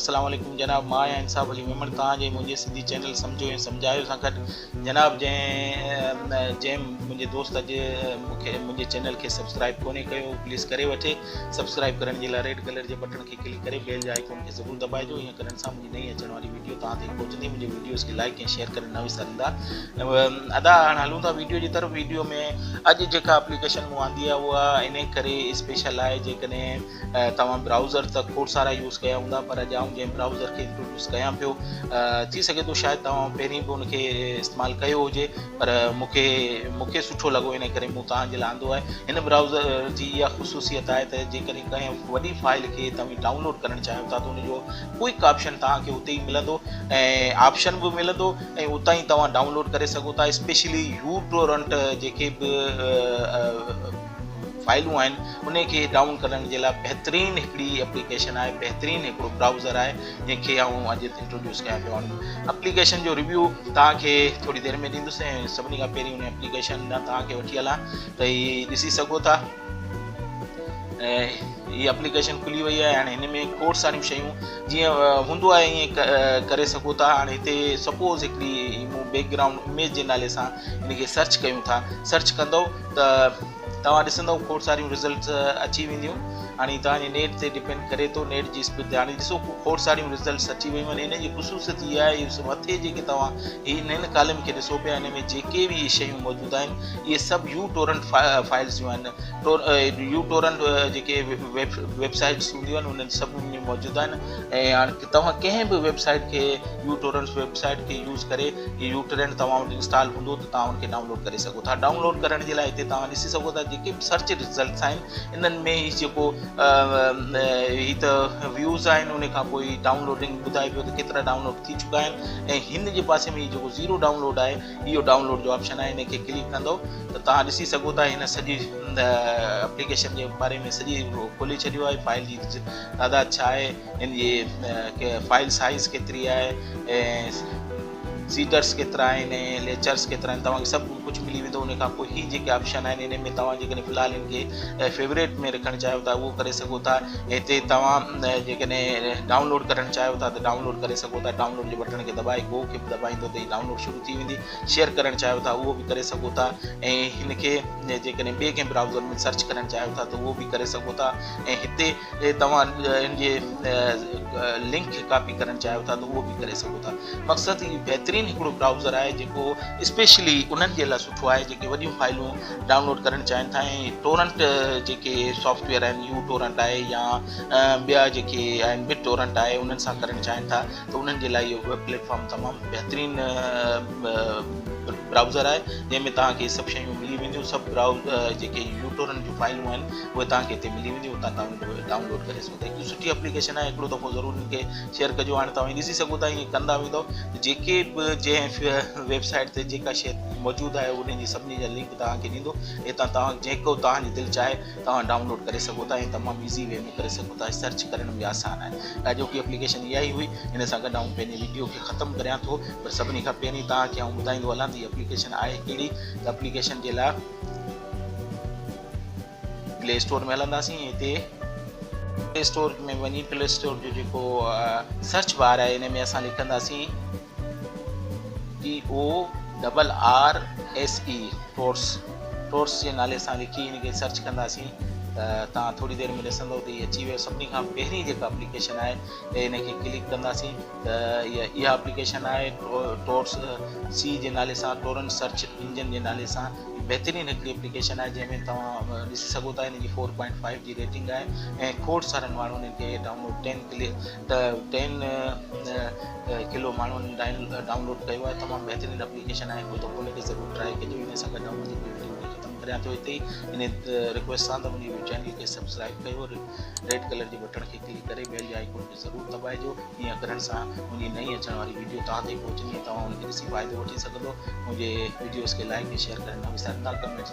السلام عليڪم جناب مان آهيان انصاف علي ميمڻ توهان جي منهنجي سنڌي چينل سمجهو ۽ سمجهايو سان گڏ جناب جنهن جنهن منهنجي دوست اڄ مونکي منهنجي چينل کي سبسڪرائب ڪونهي ڪيو پليز ڪري وٺي سبسڪرائب ڪرڻ جي لاء ريڊ ڪلر جي بٽڻ کي ڪلڪ ڪري بيل جي آئڪون کي ضرور دٻائجو ائين ڪرڻ سان نئين اچڻ واري ويڊيو توهان تائين پهچندي منهنجي ويڊيوز کي لائڪ ۽ شيئر ڪري نه وساريندا ادا هاڻ هلون ٿا ويڊيو جي طرف ويڊيو ۾ اڄ جيڪا اپليڪيشن مون آندي آهي اها ان ڪري اسپيشل آهي جيڪڏهن توهان براوزر ته کوڙ سارا يوز ڪيا هوندا پر اڄ آئون جنهن براوزر کي انٽروڊيوس ڪيان پيو ٿي سگهي ٿو شايد توهان پهرين به ان کي استعمال ڪيو هجي پر مونکي مونکي سٺو لڳو ان ڪري مون توهان جي لاء آندو آهي هن براوزر جي اها خصوصيت آهي ته جيڪڏهن ڪنهن وڏي فائل کي توهان ڊائونلوڊ ڪرڻ چاهيو ٿا ته ان جو ڪوئڪ آپشن توهان کي اتي ئي ملندو ۽ آپشن به ملندو ۽ اتان ئي توهان ڊائونلوڊ ڪري سگهو ٿا اسپيشلي يو ٽورنٽ جيڪي به فائلون آهن انهي کي ڊائون ڪرڻ جي لاء بهترين هڪڙي اپليڪيشن آهي بهترين هڪڙو براوزر آهي جنهن کي آئون اڄ انٽروڊيوس ڪيان پيو وڃان اپليڪيشن جو ريويو توهان کي ٿوري دير ۾ ڏيندس ۽ سڀني کان پهرين ان اپليڪيشن ڏانهن توهان کي وٺي هلان ته هي ڏسي سگهو ٿا هي اپليڪيشن کلي وئي آهي هاڻي هن ۾ کوڙ ساريون شيون جيئن هوندو آهي ائين ڪري سگهو ٿا هاڻي هتي سپوز هڪڙي مون بيڪ گرائونڊ اميج جي نالي سان هن کي سرچ ڪيون ٿا سرچ ڪندو ته توهان ڏسندو کوڙ ساريون رزلٽس اچي وينديون هاڻي توهان جي نيٽ تي ڊپينڊ ڪري ٿو نيٽ جي اسپيڊ تي هاڻي ڏسو کوڙ ساريون رزلٽس اچي ويون آهن هن جي خصوصيت اها آهي مٿي جيڪي توهان هي هن ڪالم کي ڏسو پيا هن ۾ جيڪي به شيون موجود آهن اهي سڀ يو ٽورنٽ فائلز جون آهن يو ٽورنٽ جيڪي ويب سائيٽس هونديون آهن انهن سڀ ۾ موجود آهن ۽ هاڻي توهان ڪنهن به ويب سائيٽ کي يو ٽورنٽ ويب سائيٽ کي يوز ڪري يو ٽورنٽ توهان وٽ انسٽال هوندو ته توهان ان کي ڊائونلوڊ ڪري سگهو ٿا ڊائونلوڊ ڪرڻ جي لاء هتي توهان ڏسي سگهو ٿا جيڪي به سرچ رزلٽس آهن انهن ۾ هي جيڪو هي ته ويوز آهن ان کان پوء ڊائونلوڊنگ ٻڌائي پيو ته ڪيترا ڊائونلوڊ ٿي چڪا آهن ۽ هن جي پاسي ۾ جيڪو زيرو ڊائونلوڊ آهي اهو ڊائونلوڊ جو آپشن آهي ان کي ڪلڪ ڪندو ته توهان ڏسي سگهو ٿا هن سڄي اپليڪيشن جي باري ۾ سڄي کولي ڇڏيو آهي فائل جي تعداد ڇا آهي ان جي فائل سائز ڪيتري آهي ۽ سيٽرس ڪيترا آهن ۽ ليچرس ڪيترا آهن توهان کي سڀ ڪجهه ملي ويندو ان کان پوء هي جيڪي آپشن آهن ان ۾ توهان جيڪڏهن في الحال ان کي فيوريٽ ۾ رکڻ چاهيو ٿا اهو ڪري سگهو ٿا هتي توهان جيڪڏهن ڊائونلوڊ ڪرڻ چاهيو ٿا ته ڊائونلوڊ ڪري سگهو ٿا ڊائونلوڊ جي بٽڻ کي دٻائي گو کي دٻائيندو ته هي ڊائونلوڊ شروع ٿي ويندي شيئر ڪرڻ چاهيو ٿا اهو به ڪري سگهو ٿا ۽ هن کي جيڪڏهن ٻئي ڪنهن برائوزر ۾ سرچ ڪرڻ چاهيو ٿا ته اهو به ڪري سگهو ٿا ۽ هتي توهان ان جي لنڪ کي ڪاپي ڪرڻ چاهيو ٿا ته اهو به ڪري سگهو ٿا مقصد هي بهترين هڪڙو برائوزر آهي جيڪو اسپيشلي انهن جي لاء سٺو آهي جيڪي وڏيون فائلون ڊائونلوڊ ڪرڻ چاهين ٿا ۽ ٽورنٽ جيڪي سافٽويئر آهن يو ٽورنٽ آهي يا ٻيا جيڪي آهن بٽ ٽورنٽ آهي انهن سان ڪرڻ چاهين ٿا ته انهن جي لاء اهو ويب پليٽ فارم تمام بهترين براؤزر آهي جنهن ۾ توهان کي سڀ شيون ملي وينديون سڀ براؤز جيڪي يوٽورن جون فائلون آهن اهي توهان کي هتي ملي وينديون هتان توهان ڊائونلوڊ ڪري سگهو ٿا هڪ سٺي اپليڪيشن آهي هڪڙو دفعو ضرور ان کي شيئر ڪجو هاڻي توهان ڏسي سگهو ٿا ائين ڪندا ويندو ته جيڪي به جنهن ويبسائيٽ تي جيڪا شيء موجود آهي ان جي سڀني جا لنڪ توهان کي ڏيندو هتان توهان جيڪو توهان جي دل چاهي توهان ڊائونلوڊ ڪري سگهو ٿا ۽ تمام ايزي وي ۾ ڪري سگهو ٿا سرچ ڪرڻ ۾ به آسان آهي اڄوڪي اپليڪيشن اها ئي هئي ان سان گڏ آئون پنهنجي وڊيو کي ختم ڪريان ٿو پر سڀني کان پهرين توهان کي آئون ٻڌائيندو هلان ته هي اپليڪيشن آهي ڪهڙي ته اپليڪيشن جي لاء پلي اسٽور ۾ هلنداسين هتي پلي اسٽور ۾ وڃي پلي اسٽور جو جيڪو سرچ بار آهي ان ۾ اسان لکنداسين T O double R S E Torrse Torrse جي نالي سان لکي ان کي سرچ ڪنداسين ته توهان ٿوري دير ۾ ڏسندو ته هي اچي ويو سڀني کان پهرين جيڪا اپليڪيشن آهي ته ان کي ڪلڪ ڪنداسين ته اها اپليڪيشن آهي ٽورس سي جي نالي سان ٽورنٽ سرچ انجن جي نالي سان بهترين هڪڙي اپليڪيشن آهي جنهن ۾ توهان ڏسي سگهو ٿا ان جي فور پوائنٽ فائيو جي ريٽنگ آهي ۽ کوڙ سارن ماڻهن ان کي ڊائونلوڊ ٽين ڪلڪ ته ٽين ڪلو ماڻهن ڊائونلوڊ ڪيو آهي تمام بهترين اپليڪيشن آهي ڪو دفعو ان کي ضرور ٽرائي ڪجو ان سان گڏ آئون پنهنجي ويڊيو کي ختم ڪريان ٿو هتي ان رڪويسٽ سان ته منهنجي چينل کي سبسڪرائب ڪيو ريڊ ڪلر جي بٽڻ کي ڪلڪ ڪري بيل جي آئيڪون کي ضرور دٻائجو ائين ڪرڻ سان منهنجي نئين اچڻ واري ويڊيو توهان تائين پهچندي توهان ان کي ڏسي فائدو وٺي سگهندو منهنجي ويڊيوز کي لائڪ ۽ شيئر ڪرڻ نه وساريندا ڪمينٽس